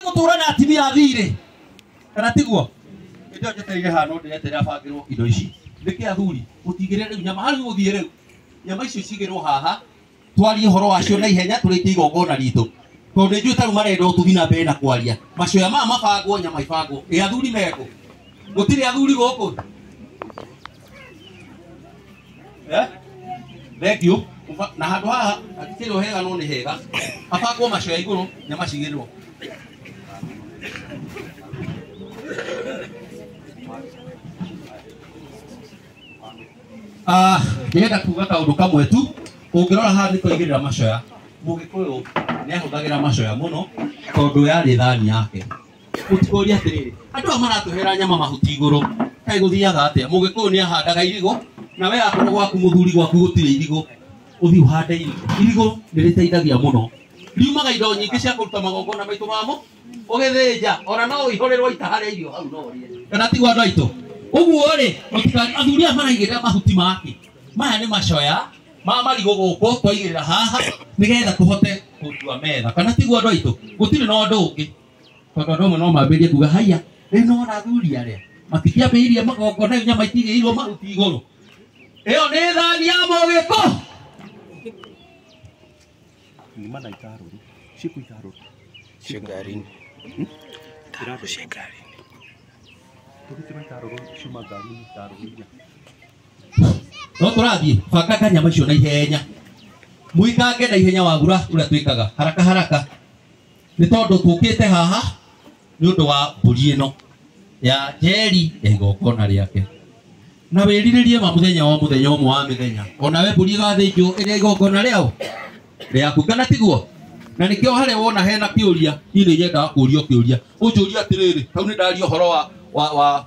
gũtũũra na atimia thiirĩ kana tiguo ndio njeteire haha no ndeeterera bangĩrwo indo ici nĩkĩ athuri mũtigĩre rĩu nyama harĩ gũthiĩ rĩu nyama icio cigĩrwo haha twarie ũhoro wacio na ihenya tũrĩkie igongona ritũ tondũ nĩ njũĩ tarũ marenda ũtugi na mbere na kwaria macoya maya mabangwo nyama ibangwo ĩ athuri mekũ gũtirĩ athuri gũkũ Eh? thank you Uba- na handå haha hatirä o hega no nä hega habangwo macoya igå rå nä macigä rwo ndĩrenda kuga kaũndũ kamwe tu ũngĩrora haha nĩ twaigĩrä ra macoya mũgĩkũyũ nĩ ahũthagĩra macoya mũno tondũ yarĩ thani yake mũtikũria atĩrĩrĩ andũ aya maratũhera nyama mahuti igũrũ kaĩ gũthiaga atĩa mũgĩkũyũ nĩ ahandaga irigũ na we akorwo gwaku mũthuri gwaku gũtirĩ irigũ ũthiĩ ũhande irigũ irigũ nĩ rĩteithagia mũno riumaga indo nyingĩ cia kũruta magongona maitũ mamo ũgĩthĩnja ona no ihũrĩrwo ita harĩa irio hau no ũrĩe kana tigwa andũ aitũ ũguo rĩ mũtikari athuri aya maraigĩrĩra mahuti make maya nĩ macoya ma marigũ gũkũ twaigĩrĩra haha nĩgetha tũhote gũtua metha kana tigwa andũ aitũ gũtirĩ na ũndũ ũngĩ tondå andå amwe no mambä rie kuga haiya rä u nona athuri arä a matikĩambä irie magongona nyama itirä irwo mahuti igå rå ä yo nä thani ya må gä ko ngima na itarũrũ ciku itarũrũ Cio ngarinĩ. Itarũrũ cia ngarinĩ. tũgĩtĩrwo itarũrũ ciuma ngarinĩ itarũrũ iria no tå rathiä bangaga nyama icio na ihenya muikange na ihenya wagura å rä a twä kaga haraka haraka nĩ tondũ tũkĩte haha nĩ ũndũ wa mbũri ĩno ya njeri ya igongona rĩake na wĩrirĩrie ma mũthenya wa mũthenya ũmwe wa mĩthenya onawe mbũri ĩgathĩnjwo ĩrĩa igongona rĩao rĩaku kana tiguo na nĩkĩo harĩa wona hena kĩũria niĩ nĩ nyendaga kũũrio kĩũria ũnjũria atĩrĩrĩ hau nĩ ndaria ũhoro wa, wa, wa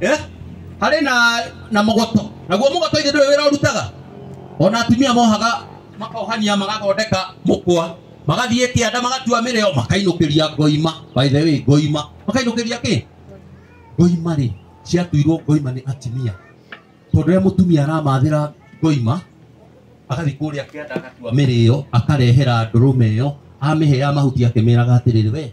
eh? harĩ na na mũgoto naguo mũgoto ithe ndũrĩ wĩra ũrutaga ona atumia mohaga makohania magathondeka mũkwa magathiĩ kĩanda magatua mĩrĩo makainũkĩria ngoima by the way ngoima makainũkĩria kĩ ngoima rĩ ciatuirwo ngoima nĩ atumia tondũ rĩrĩa mũtumia aramathĩra ngoima agathiĩ kũrĩa kĩanda agatua mĩrĩo akarehera ndũrũme ĩyo amĩhe ya mahuti akĩmĩraga atĩrĩrĩ we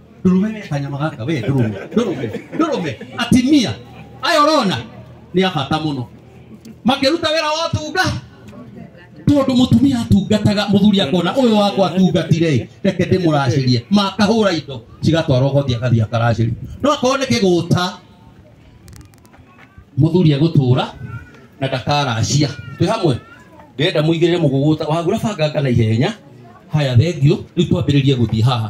ndũrũme nĩ kanyama gaka we ndũrũme ndũrũme ndũrũme atimia aya ũrona nĩ abata mũno makĩruta wĩra wa ũtunga tondũ mũtumia atungataga mũthuri akona ũyũ wakwa atungatire reke ndĩmũracĩrie makahũra indo cigatwarwo goti agathiĩ akaracĩria no akorwo nĩ kĩgũta mũthuri egũtũra na ndakaracia twĩ hamwe ndĩrenda mũigĩrĩre mũgũgũta wagura banganga na ihenya haya thengio rĩu twambĩrĩrie gũthiĩ haha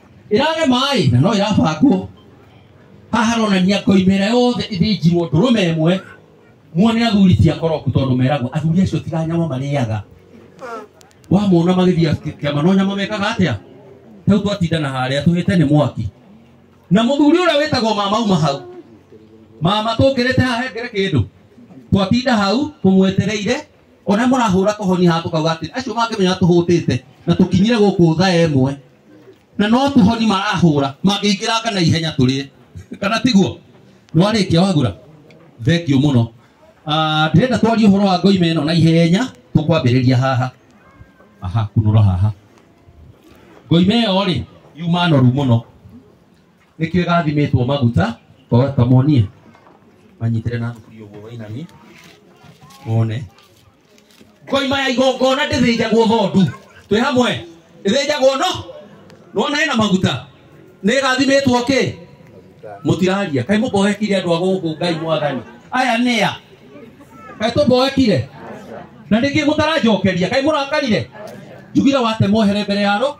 ĩrare maĩ na no ĩrabangwo haha haronania koimera yothe ĩthĩnjirwo ndũrũme ĩmwe muone athuri ti akoroku tondũ meragwo athuri acio tiga nyama marĩaga wamona magĩthiĩ kĩama no nyama mekaga atĩa rĩu twatindana harĩa tũhĩte nĩ mwaki na mũthuri ũrĩa wĩtagwo mama uma hau mama tũngĩrĩte haha hengere kĩndũ twatinda hau tũmwetereire ona mũrahũra kohoni haha tũkauga atĩ acio mangĩmenya tũhũtĩte na tũkinyire gũkũ tha ĩmwe na no tũhoni marahũra mangĩingĩranga na ihenya tũrĩe kana tiguo no arĩkia wagura thengio mũno Ah, ndĩrenda twarie ũhoro wa ngoima ĩno na ihenya tũkwambĩrĩria haha aha kunũra haha ngoima ĩyo rĩ yuma noru mũno nĩkĩo ĩgathimĩtwo maguta Kwa- kamonie manyitĩre na thukuri ũguo wainamie mone ngoima ya igongona ndĩthĩnjagwo thondu twĩ hamwe ĩthĩnjagwo no nona hena maguta nĩ ĩgathimĩtwo kĩ mũtiraria kaĩ mũboekire andũ a gũkũ ngai mwathani aya nĩa kaĩ tũboekire na nĩkĩ mũtaranjokeria kaĩ mũrakarire njugire watemwo here mbere yaro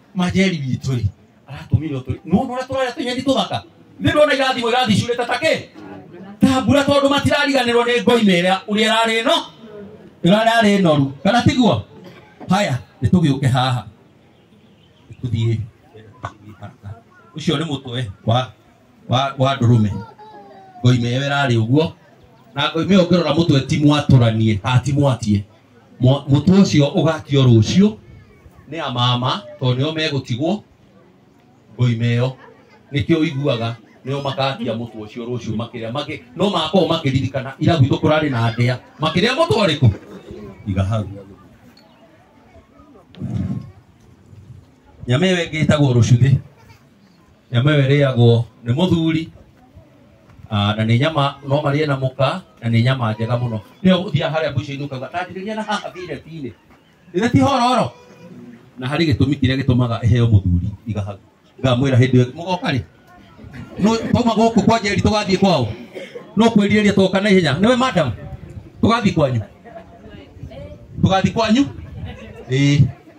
majeri witũ rĩ aratũmire ũtũ nũndũ ũrĩa tũrarĩa tũnyeni tũthaka nĩ ndona irathimo irathicurĩte ta kĩ ta mbura tondũ matirariganĩrwo nĩ ngoime ĩrĩa ũrĩa ĩrarĩ no ĩrararĩ noru kana tiguo haya nĩ tũgĩũke haha tũthiĩ ũcio nĩ mũtwe wa wa wa ndũrũme ngoime ĩyo ĩrarĩ ũguo na ngoime ĩyo ngĩrora mũtwe ti mwatũranie ati mwatie Mwa- mũtwe ũcio ũgakio rũciũ nĩ amama tondũ nĩo megũtigwo ngoima ĩyo nĩkĩo iguaga nĩo makakia mũtwe ũcio rũciũ makĩrĩa makĩ no makorwo makĩririkana ira gwitũ kũrarĩ na ndĩa makĩrĩa mũtwe ũrĩkũ iga hau nyama ĩyo ĩngĩ ĩtagwo rũcuthĩ nyama ĩyo ĩrĩagwo nĩ mũthuri Ah, na nĩ nyama no marĩe na mũka na nĩ nyama njega mũno nĩyo ũthiaga harĩa mbucĩinĩ ũkauga tanjĩrĩria na haha thireti-inĩ ĩrĩa ti hororo na harĩ gĩtũmi kĩrĩa gĩtũmaga ĩheo mũthuri igaha ngamwĩra hĩndĩ ĩyo mũgoka rĩ No- twauma gũkũ kwa njeri tũgathiĩ kwao no kwĩrirĩria twoka na ihenya nĩwe madam tũgathiĩ kwanyu tũgathiĩ kwanyu ĩĩ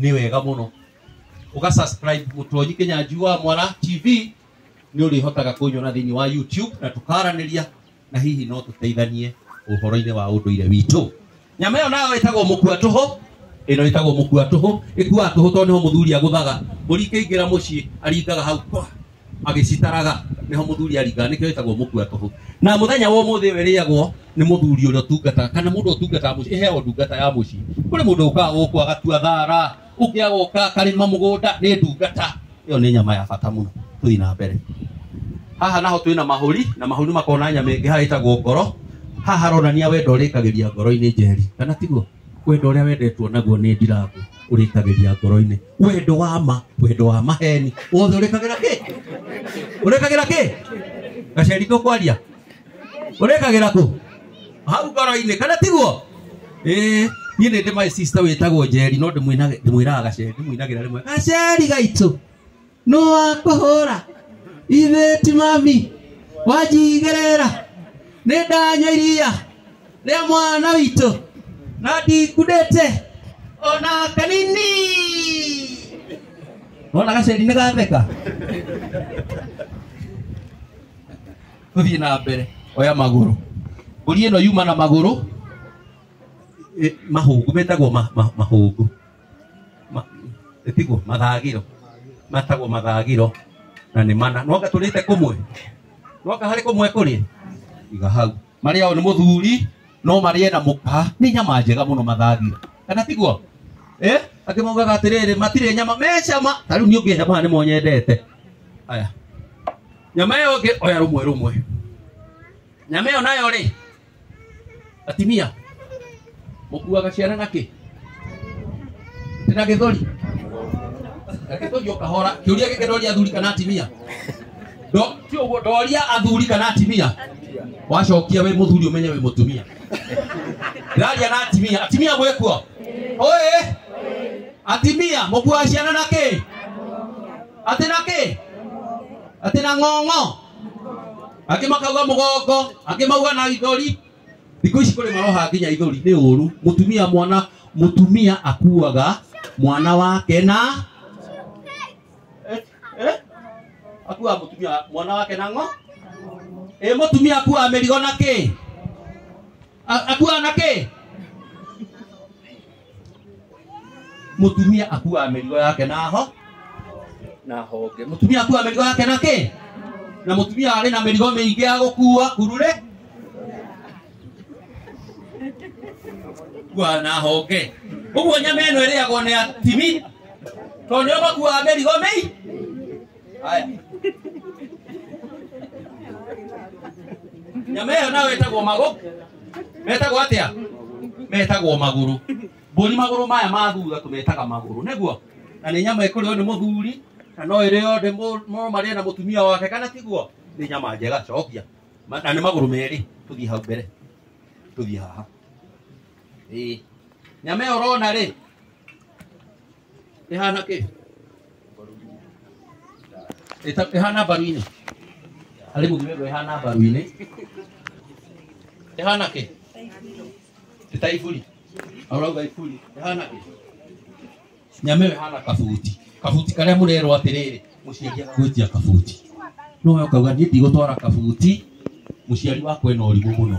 nĩ wega mũno ũga subscribe mũtonyi kenya njua mwara tv nĩ ũrĩhotaga kũnyona thĩinĩ wa youtube na tũkaranĩria na hihi no tũteithanie ũhoro-inĩ wa ũndũire witũ nyama ĩyo nayo ĩtagwo mũkua tũhũ ĩno ĩtagwo mũkua tũhũ ĩkuaga tũhũ tondũ nĩho mũthuri agũthaga mũri kĩingĩra mũciĩ aringaga hau kwa agĩcitaraga nĩho mũthuri aringaga nĩkĩo ĩtagwo mũkua tũhũ na mũthenya wa ũmũthĩ ũyũ ĩrĩagwo nĩ mũthuri ũrĩa ũtungataga kana mũndũ ũtungataga mũciĩ ĩheagwo ndungata ya mũciĩ kũrĩ mũndũ ũkaga gũkũ agatua thara ũngĩ agoka akarĩma mũgũnda nĩ ndungata ĩyo nĩ nyama ya bata mũno tũthiĩ na mbere haha naho twĩna mahũri na mahũri makoragwo na nyama ĩngĩ haha ĩtagwo ngoro haha haronania wendo ũrĩkagĩria ngoro-inĩ njeri kana tiguo wendo ũrĩa wendetwo naguo nĩ ndirangũ ũrĩkagĩria ngoro-inĩ wendo wa ma wendo wa maheni wothe urikagira ki urikagira ki gaceri tukwaria urikagira ku hau ngoro-inĩ kana tiguo ĩĩ niĩ nĩ ndĩ my sister wĩtagwo njeri no ndĩmwĩnage- ndĩmwĩraga gaceri ndĩmwĩnagĩra rĩmwe gaceri gaitũ nũ wakũhũra ithĩ ti mami wanjigĩrĩra nĩ ndanyua iria nĩ mwana witũ na ndingudĩte ona kanini wona gaceri nĩ gatheka tũthiĩ na mbere oya magũrũ mbũri ĩno yuma na magũrũ ĩ- mahũngũ metagwo ma- ma- mahũngũ Ma- tiguo mathagĩro matagwo mathagĩro na nĩ mana no gatũrĩte kũmwe no kaharĩ kũmwe kũrĩ iga hau marĩa o nĩ mũthuri no marĩe na mũka nĩ nyama njega mũno mathagira kana tiguo eh akĩmaugaga atĩrĩrĩ matirĩ nyama mecama ta rĩu niĩ ũngĩhe maya nĩmo nyendete aya nyama ĩyo ĩngĩ oya rũmwe rũmwe nyama ĩyo nayo rĩ atimia Mũkuaga ciana na kĩ? Ndĩ na gĩthũri. Na gĩthũri ũkahora. Kĩũria gĩkĩ ndoria athuri kana atimia. Ndo ti ũguo ndoria athuri kana atimia. Wacokia wĩ mũthuri ũmenye wĩ mũtumia. Ndĩraria na atimia. Atimia mwĩ kuo? Oĩ! Atimia mũkuaga ciana na kĩ? Atĩ na kĩ? Atĩ na ng'ong'o? angĩ makauga mũgongo angĩ mauga na ithori thikå ici kå rä maroha nginya ithori nä å ru må tumia mwana må tumia akuaga mwana wake na Eh, eh? akuaga må tumia mwana wake na ng'o ä må tumia akuaga mä rigo na kä akuaga na kä mutumia akuaga mĩrigo yake na ho na honge mutumia akuaga mĩrigo yake na kĩ na mutumia arĩ na mĩrigo mĩingĩ ya gũkua kurure kuaga na honge ũguo nyama ĩno ĩrĩagwo nĩ atimi tondũ nĩo makuaga mĩrigo mĩi haya nyama ĩyo nayo ĩtagwo magũ metagwo atĩa metagwo magũrũ mbũri magũrũ maya ma thutha tũmetaga magũrũ nĩguo na nĩ nyama ĩkũrĩo nĩ mũthuri na no ĩrĩo ndĩ mũ- no marĩe na mũtumia wake kana tiguo nĩ nyama njega cokia Ma- na nĩ magũrũ merĩ tũthiĩ hau mbere tũthiĩ haha Ĩĩ. nyama ĩyo ũrona rĩ ĩhana kĩ Ĩta- ĩhana mbaru-inĩ harĩ mũthimendo ĩhana mbaru-inĩ ĩhana kĩ ĩta iburi aurauga iburi ĩhana kĩ nyamĩo ĩhana kabuti kabuti karĩa mũrerwo atĩrĩrĩ mũciari agagwĩtia kabuti no we ũkauga niĩ ndigũtwara kabuti mũciari wakwa ena ũrimũ mũno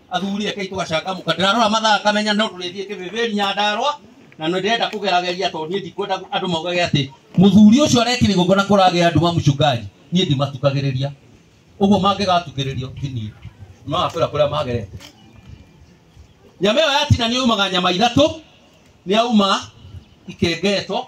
athuri eke tũgacangamũka ndĩrarora mathaa kamenya no tũrĩthiĩ kĩbĩbĩri nyandarwa na nĩ ndĩrenda kũgerageria tondũ niĩ ndikwenda andũ maugage atĩ mũthuri ũcio arekire igongona kũragĩa andũ wa mũcungaji niĩ ndimatukagĩrĩria ũguo mangĩgatukĩrĩrio ti niĩ magakwĩra kũrĩa magerete nyama ĩyo yatina nĩ yumaga nyama ithatũ nĩ yauma ikengetwo